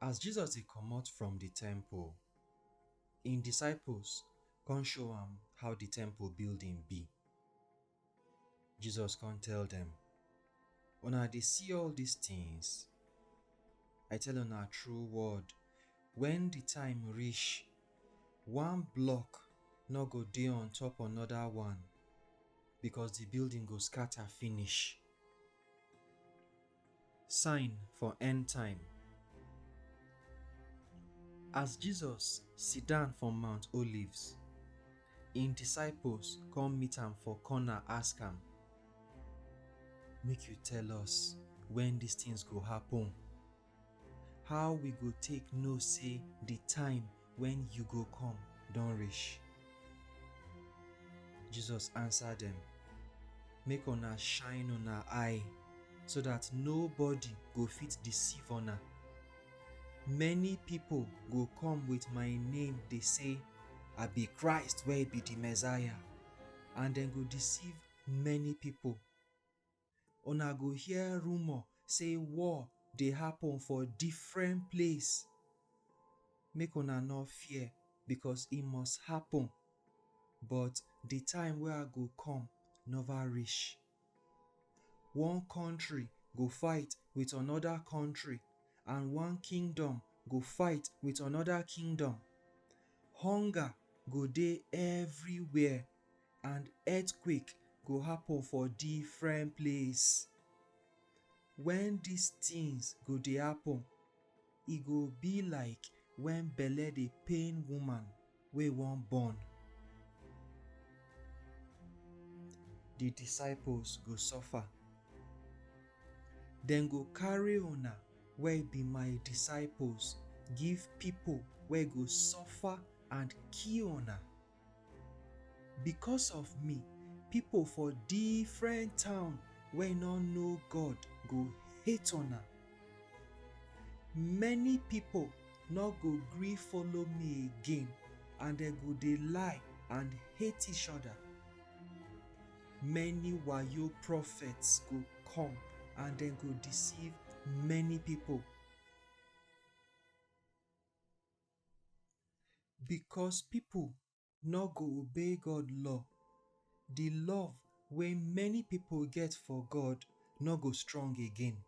As Jesus dey comot from di temple, im disciples come show am how di temple building be. Jesus come tell dem, Una dey see all dis tins? I tell una true word, wen di time reach, one block nor go dey on top anoda one, becos di building go scata finish. Sign for End Time As Jesus sit down for Mount Olives, im disciples come meet am for corner ask am, Make you tell us when these things go happen? How we go take know say the time Wen yu go kom don rish. Jesus ansa dem, Make una shine una eye, so dat nobody go fit deceive una. Many pipol go kom with my name dey sey, I bi Christ wey bi di Messiah, and dem go deceive many pipol. una go hear rumor say war dey happen for different place. Make una no fear, because e must happen, but the time wey I go come never reach. One country go fight with another country, and one kingdom go fight with another kingdom. Hunger go dey everywhere, and earthquake go happen for different place. When these things go dey happen, e go be like when belle dey pain woman wey wan born. The disciples go suffer. Dem go carry una wey be my disciples give people wey go suffer and kill una. Because of me, pipo for different town wey nor know God go hate una. Many pipo nor go gree follow me again and dem go dey lie and hate each oda. Many wayo prophets go come and dem go deceive many pipo. Because pipu no go obey God law, di love wey many pipu get for God no go strong again.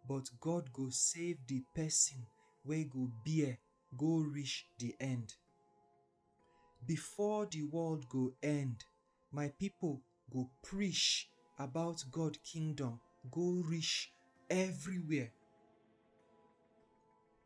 But God go save di pesin wey go bear go reach di end. Before di world go end, my pipu go preach about God kingdom go reach everywhere.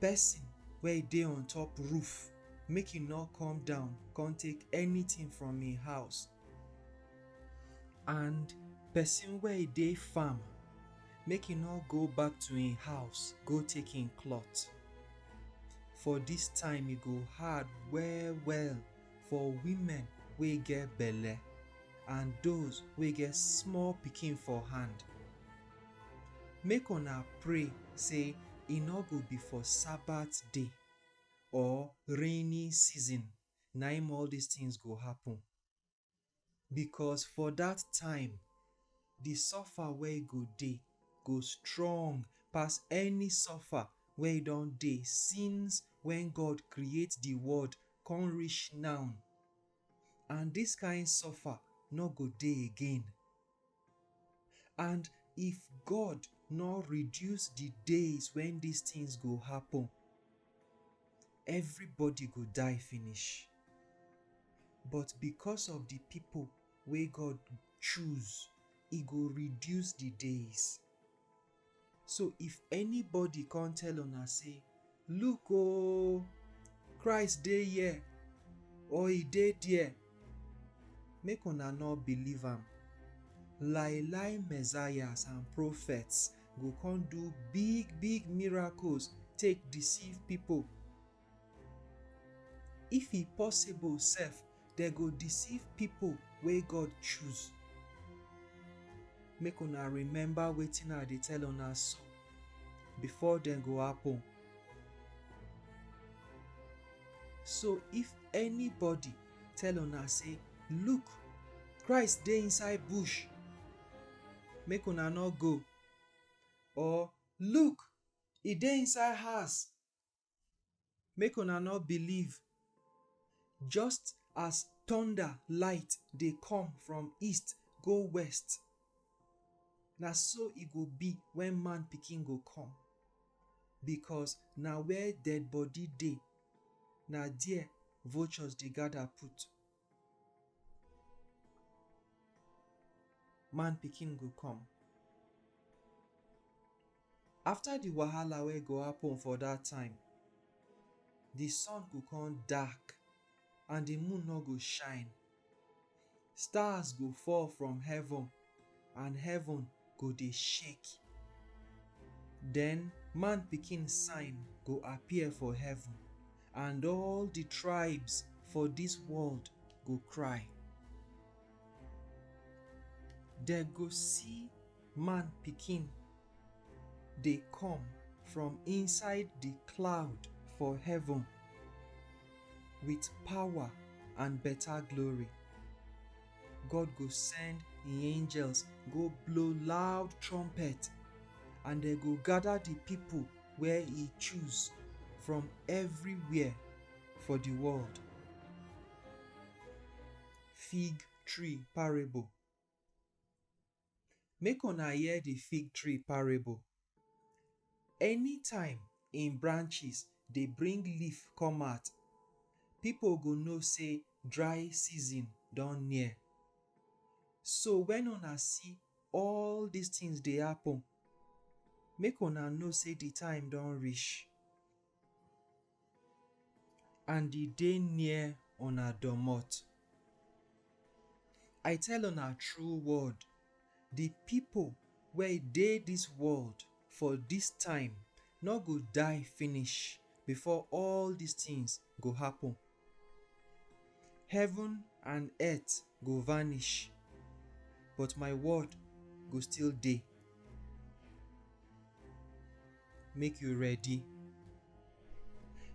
Pesin wey dey on top roof, make e nor come down kon take anytin from im house, and pesin wey dey farm, make e nor go back to im house go take im cloth. For dis time e go hard well-well for women wey get belle and doz wey get small pikin for hand. Make una pray sey e nor go be for Sabbath day or rainy season na im all dis tins go happen, becos for dat time, di suffer wey e go dey go strong pass any suffer wey e don dey since wen God create di world kon reach now, and dis kind suffer nor go dey again. And if God nor reduce di days wen dis tins go happun, evribody go die finish. But bicos of di pipo wey God choose, e go reduce di days. So if anybody come tell una say, Look oh, Christ dey here or he dey there, make una no believe am. Lie lie messiahs and prophets go come do big big miracles take deceive people. If e possible sef, dem go deceive pipo wey God choose. Make una remember wetin I dey tell una so, before dem go happen. So if anybody tell una sey, Look! Christ dey inside bush! Make una no go. Or, Look! E dey inside house! make una no believe just as thunder light dey come from east go west na so e go be when man pikin go come because na where dead body dey na there vultures dey gather put man pikin go come. After the wahala wey go happen for that time, the sun go come dark and the moon no go shine. Stars go fall from heaven and heaven go dey shake. Den Man Pikin sign go appear for heaven, and all di tribes for dis world go cry. Dem go see Man Pikin dey come from inside di cloud for heaven with power and beta glory. God go send im angels go blow loud trumpet and dem go gather the people where he choose from everywhere for the world. Fig tree parable. Make una hear di fig tree parable, anytime im branches dey bring leaf come out, pipo go know sey dry season don near. So wen una see all dis tins dey happen, make una know sey di time don reach. and e dey near una domot. I tell una true word, di pipo wey dey dis world for dis time nor go die finish before all dis tins go happen. Heaven and earth go vanish, but my word go still dey. Make you ready.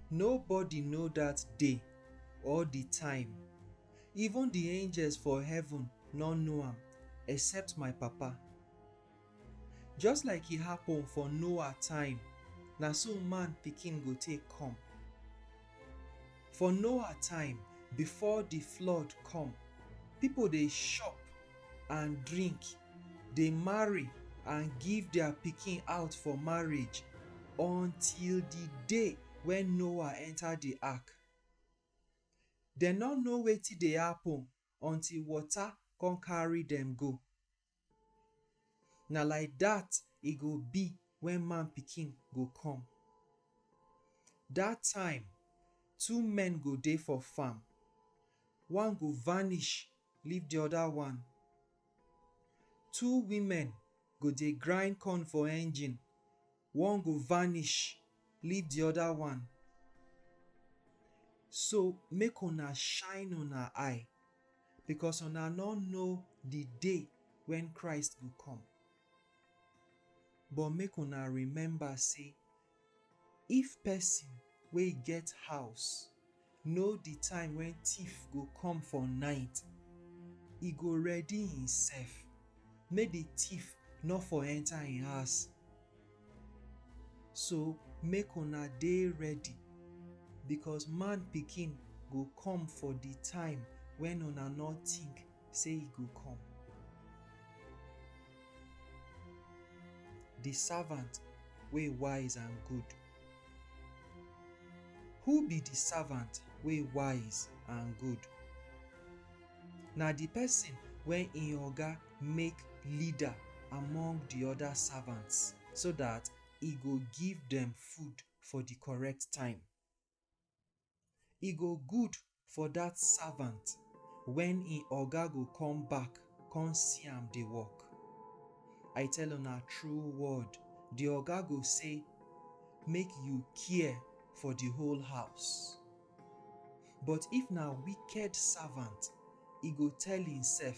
Nobody know that day or the time. Even the angels for heaven no know am except my Papa. Just like e happen for Noah time, na so man pikin go take come. For Noah time, before the flood come, people dey shop and drink, dey marry and give their pikin out for marriage until the day when Noah enter the ark. Dem no know wetin dey happen until water come carry dem go. Na like dat e go be wen Man Pikin go come. Dat time, two men go dey for farm, one go vanish leave di oda one. Two women go dey grind corn for engine, One go vanish, leave di oda one. So, make una shine una eye, bikos una nor know di day wen Christ go kom. But make una remember sey, if pesin wey get house Know di time wen tiff go come for night, e go ready himself make di tiff nor for enter him house, so make una dey ready becos man pikin go come for di time wen una nor tink sey e go come. Di savant wey wise and good. Who be di savant wey wise and good? Na di pesin wey im oga make leader among di oda savants so dat e go give dem food for di correct time. E go good for dat savant wen im oga go come back come see am dey work. I tell una true word, di oga go say, Make you care for di whole house. But if na wicked savant, e go tell imsef,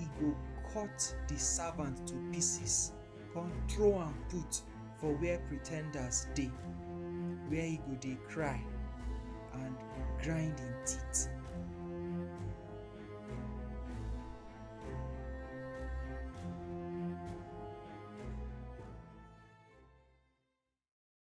e go cut di servant to pieces, come throw am put for where pretenders dey, where e go dey cry and grind im teeth.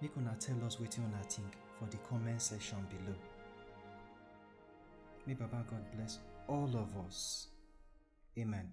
Make una tell us wetin una think for the comment section below. May Baba God bless all of us. Amen.